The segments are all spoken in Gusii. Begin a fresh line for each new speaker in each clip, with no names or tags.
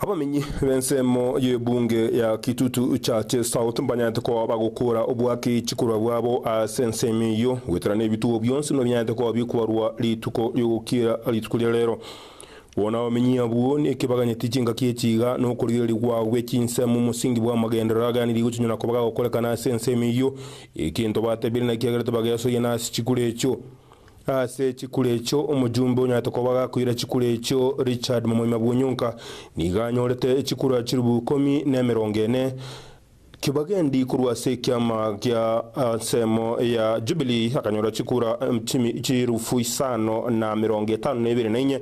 Abamenyi b'ensemo y'ebunge ya Kitutu Chache South mbanyaete koba bagokora obwaki chikorwa bwabo ase ensemo eyio, goetera nebitugo bionsi buna binyaete koba bikobarwa rituko ri'ogokiera rituko ria rero. Bono abamenyi abwo nekebaganyeti chingaki echi iga nokorigereria gwao gwe chinsemo omosingi bw'amagenderero aganiri gochinyora koba gagokorekana ase ensemo eyio, egento batebiire na ekiagerete bagesoyia nase chikura echio. Ase chikura echio omojumbe onyarete koba agakoira chikura echio Richard Momoima bw'Onyonka nigo anyorete chikura chilifu ikomi na emerongo ene kibagendi korwa ase ekiama gia ensemo ya Jubilee akanyora chikura chilifu isano na emerongo etano na ibere na inye.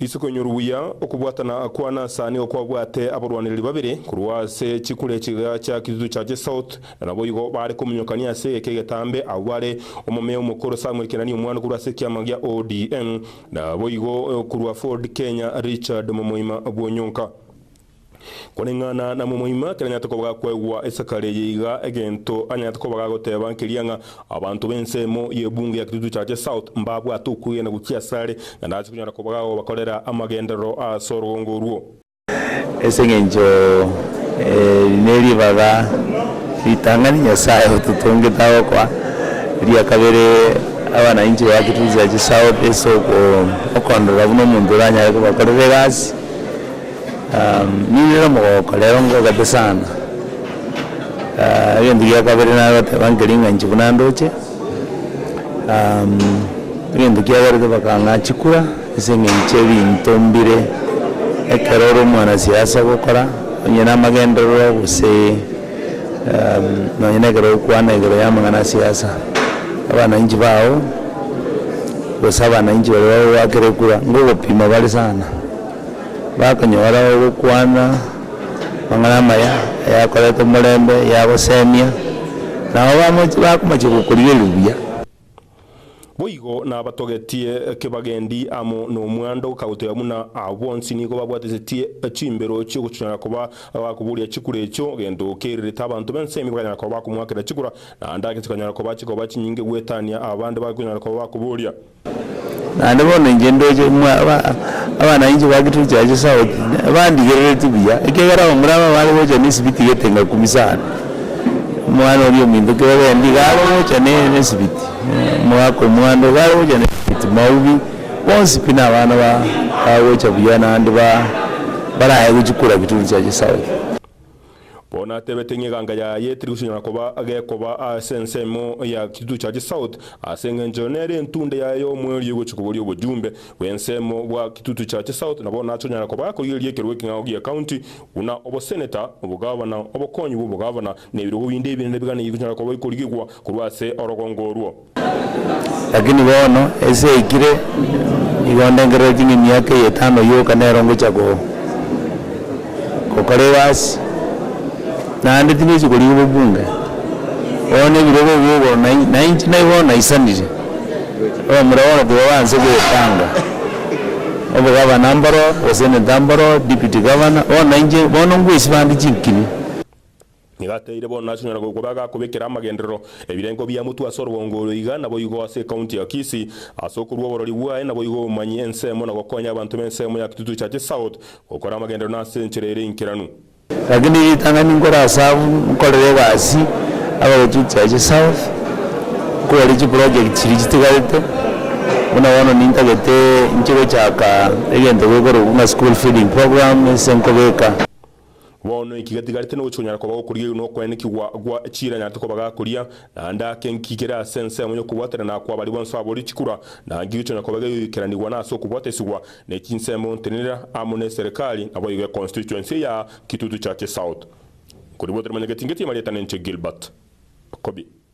Isiko inyoru buya okobwatana kwane as'ane okwabwate abarwanereri babere korwa ase chikura echiga chia Kitutu cha Chesouth, na naboigo baare kominyokania ase egeka egetambe. Abwo bare omomea omokoro Samuel Kenani omwana korwa ase ekiama gia ODM, naboigo korwa Ford Kenya Richard Momoima bw'Onyonka. Koreng'ana na momoima, kera nyarete koba gakwegwa esakari eye iga, egento anyarete koba gagoteba nkeria ng'a, Abanto b'ensemo y'ebunge ya Kitutu Chache South mbabwate okwegena gochia asare, na ndase konyara koba gagobakorera amagenderero ase orogongo orwo. Ase engencho eri neribaga ritang'ani Nyasaye ototongete agokoa eria kabere abanainche ba Kitutu Chache South ase okondora buna omonto oranyare kobakorera egasi. Ninyoire omogoko rero ngogete sana, egento gia kabere nagoteba nkeri ng'a inche buna ndoche, egento kiagerete bakang'a chikura ase eng'encho ebinto mbire, ekero ore omwana siasa ogokora onye na amagenderero gose nonye na ekero ogokwana igoro ya amang'ana a siasa, abananchi bao gose abananchi baria bagoakera ekura, ngogopima bare sana. Bakonyora ogokwana amang'ana amaya ayakorete omorembe, yagosemia, nabo bamochi bakomochia gokorigereria buya. Boigo nabatogetie kebagendi amo nomwando kagotoya buna aa bonsi nigo babwatesetie chimbero chiogochinyora koba abakoboria chikura echio, gento kerirete abanto bensemi bakanyara koba bakomoakera chikura, naende ake chikanyara koba chikoba chinyinge gwetania aba bande bakonyara koba bakoboria. Naende bono inche ndoche mwa aba abana inche ba Kitui Church South bandigereretie buya, ekiagera abwo mbuna abwo bare gocha na esibiti egete ngakumi sana, omwana oria ominto ekero ogendire iga are gocha na e- na esibiti, omogaka omwando iga are gocha na esibiti, maubi, bonsi pi na abana ba bagocha buya naende ba baraye gochia korwa Kitui Church South. Bono atebete ng'a eganga yaye tirigosinyora koba gekoba ase ensemo ya Kitutu Church South ase engencho nere entunde yaye y'omwerio egochia koboria obojumbe bw'ensemo bwa Kitutu Church South na bono nache onyare koba akorigereria ekerogo ekeng'ao gia county buna oboseneta, obogavana, obokonyi bw'obogavana na ebirogo binde ebinene biganeiyo bikonyara koba bikorigigwa korwa ase orogongo orwo. Lakini bono ense yaikire, nigo ndengereire ching'a emiaka eye etano yoka nero ngochia go gokora egasi, naende tingochia korigia obobunge, bono na ebirogo ebi igoro na inche, na inche nai bono naisanire, omomura bono tibaba nse goetanga, obogabana mboro, oseneta mboro, deputy governor, bono na inche, bono ngoesibande chinkiri. Nigo ateire bono nachonyora goikwa bagakobekera amagenderero, ebirengo bia motwe ase orobongo oro iga naboigo ase ekaunti ya Kisii, ase okorua oborori bwaye naboigo obomanyia ensemo na gokonya abanto b'ensemo ya Kitutu Church South gokora amagenderero na ase enchera ere enkeranu. Rakini ritang'ani nkore ase abwo nkorere egasi aba Kitutu Church South nkoboria chiprojekti chiria chitigarete, buna bono nintagete inche gochaka egento gekorokwa ng'a school feeding program ase nkobeka. Bono inki getigarete nogochia konyara koba gokorigereria na okwaenekigwa gwa chiira nyarete koba gakoria? Naende ake inki kere ase ensemo y'okobwaterana kwa baria bonsi ababori chikura? Na inki gekonya koba gegoikeranigwa nase okobwatesigwa ne chinsemo ontenenera amo ne eserekari? Naboigo econstituency ya Kitutu Church South, nkoribwatera manya getingetie marieta ninche Gilbert Kobi.